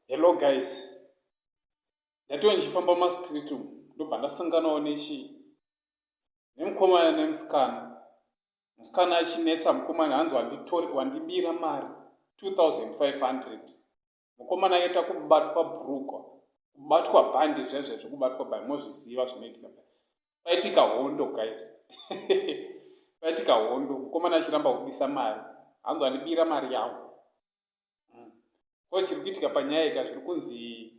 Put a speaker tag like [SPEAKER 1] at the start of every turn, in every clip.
[SPEAKER 1] hello guys ndatiwa ndichifamba mumastreet umu ndobva ndasanganawo nechi nemukomana nemusikana musikana achinetsa mukomana hanzi wandibira mari 2500 mukomana yeta kubatwa brugwa kubatwa bhandi zvezvezvo kubatwa by mozviziva zvinoitika paitika hondo guys paitika hondo mukomana achiramba kubisa mari hanzi andibira mari yangu ko hmm. chiri kuitika panyaya ika zviri kunzi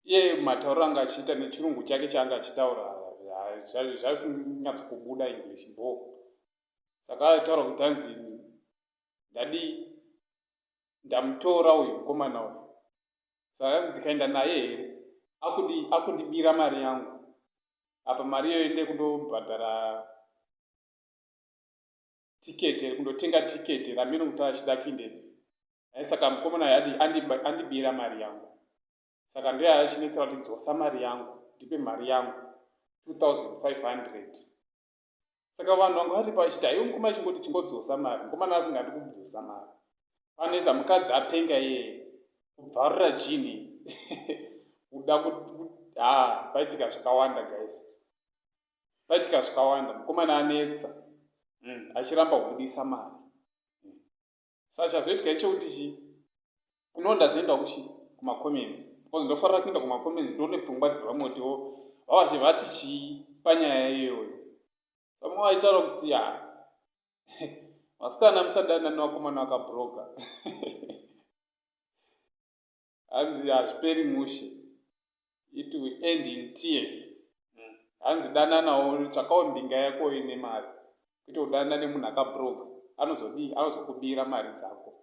[SPEAKER 1] iye matauriro anga achiita nechirungu chake chaanga achitaura zvasinyatsikubuda english bo saka aitaura kuti hanzi ndadi ndamutora uyu mukomana uyu saka anzi ndikaenda naye here akundibira mari yangu apa mari iyoyo ndekundobhadhara ticket kundotenga ticket ramiro kuti achida kuinde ai saka mukomana yadi andibira mari yangu saka ndiye achinetsa kuti dzosa mari yangu ndipe mari yangu 2500 saka vanhu vanga vari pachiti aiwe mukomana chingoti chingodzosa mari mukomana asingadi kubvusa mari panetsa mukadzi apenga iye kubvarura jini kuda kuti ha paitika zvakawanda guys Paitika zvikawanda mukomana anetsa mm, achiramba kubudisa mari mm. Sa chazoitika ichekuti chi kuno ndazoenda kuchi kumacomments because ndofarira kuenda kumacomments ndione pfungwa dzevamwe kuti wo vavazhe vati chii panyaya iyoyo vamwe vaitaura kuti ya vasikana musadana nevakomana vakabroka hanzi hazviperi mushe it will end in tears hanzi dananawo tsvakawo mbinga yako ine mari kuita kudanana nemunhu akabroga anozodii anozokubira mari dzako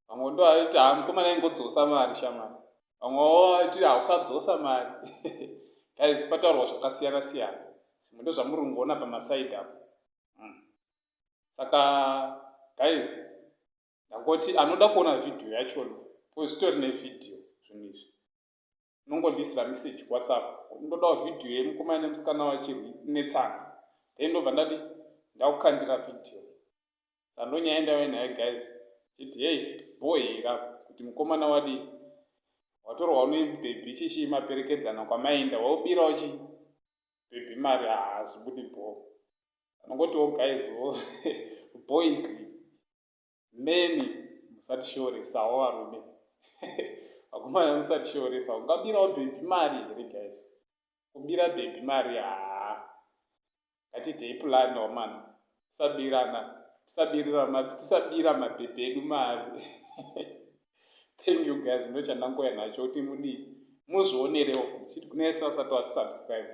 [SPEAKER 1] vamwe ndo aiti ha mukomana ingodzosa mari shamani vamwewo aiti hausadzosa mari guys pataurwa zvakasiyana siyana zvimwe ndozvamuri kungoona pamasaidi apo hmm. saka guys ndangoti anoda kuona vhidhiyo yachona bcause zvitori nevhidhiyo zvinhu izvi unongondiisira message whatsapp ndodawo vhidhiyo yemukomana nemusikana wachirwi netsana then ndobva ndati ndakukandira vhidhiyo sando nyaya ndave naye guys chiti hei bhohira kuti mukomana wadii watorwa unebhebhi chichii maperekedzana kwamaenda waubirawo chi bhebhi mari haazvibudi bhoo anongotiwo guys wo boys many musatishoresawo varume vakomana musatishoresawo ungabirawo bhebhi mari here guys kubira bhebhi mari haa ngatidei pulani wamana tisabirana tisabira mabhebhi edu mari thank you guys ndochandangouya nacho kuti mudii muzvionerewo chiti kune sasati wasubscribe